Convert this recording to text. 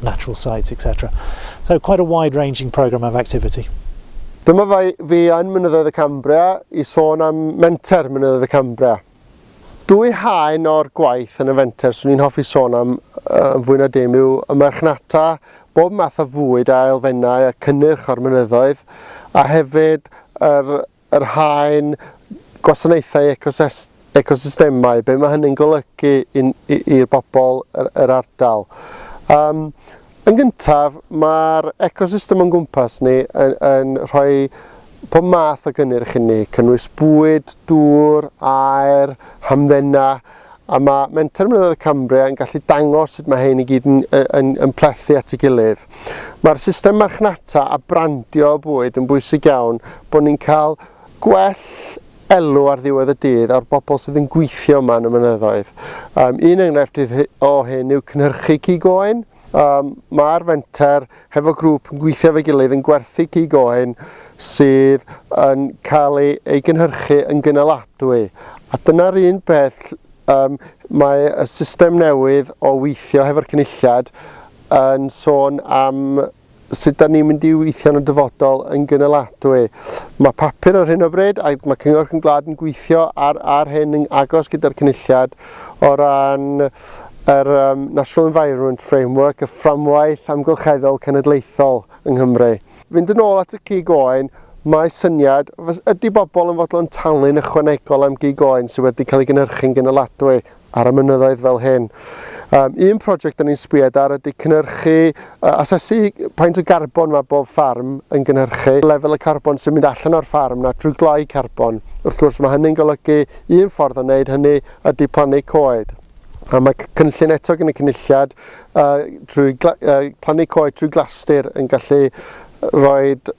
natural sites, etc. So quite a wide-ranging programme of activity. Dyma fi yn Mynyddoedd y Cambria i sôn am menter Mynyddoedd y Cambria. Dwy haen o'r gwaith yn y fenter swn i'n hoffi sôn am uh, fwy na dim yw y marchnata, bob math o fwyd a elfennau a cynnyrch o'r mynyddoedd, a hefyd yr yr haen gwasanaethau ecosystemau, be mae hynny'n golygu i'r bobl yr ardal. Um, yn gyntaf, mae'r ecosystem o'n gwmpas ni yn, yn rhoi pob math o gynnyrch i ni, cynnwys bwyd, dŵr, aer, hamddena, A mae Menter Mynyddoedd Cambria yn gallu dangos sut mae hyn i gyd yn, yn, yn plethu at ei gilydd. Mae'r system marchnata a brandio y bwyd yn bwysig iawn bod ni'n cael gwell elw ar ddiwedd y dydd o'r bobl sydd yn gweithio yma yn y mynyddoedd. Um, un enghraifft o hyn yw cynhyrchu cig oen, Mae'r fenter hefo grŵp yn gweithio efo'i gilydd yn gwerthu cig oen sydd yn cael ei, ei gynhyrchu yn gynaladwy. A dyna'r un peth, um, mae y system newydd o weithio hefo'r cynulliad yn sôn am sut da ni'n mynd i weithio yn y dyfodol yn gynaladwy. Mae papur ar hyn o bryd, a mae Cyngor Cwm Glad yn gweithio ar, ar hyn yn agos gyda'r cynulliad o ran yr um, National Environment Framework, y fframwaith amgylcheddol cenedlaethol yng Nghymru. Fynd yn ôl at y gig oen, mae syniad, ydy bobl yn fodlon talu'n ychwanegol am gig oen sydd wedi cael ei gynhyrchu'n gynaladwy? ar y mynyddoedd fel hyn. Um, un prosiect da ni'n sbwyed ar ydy cynnyrchu, uh, asesu paint o garbon mae bob ffarm yn gynhyrchu, lefel y carbon sy'n mynd allan o'r ffarm na trwy gloi carbon. Wrth gwrs mae hynny'n golygu un ffordd o wneud hynny ydy plannu coed. A mae cynllun eto gen y cynulliad uh, trwy uh, plannu coed trwy glastir yn gallu rhoi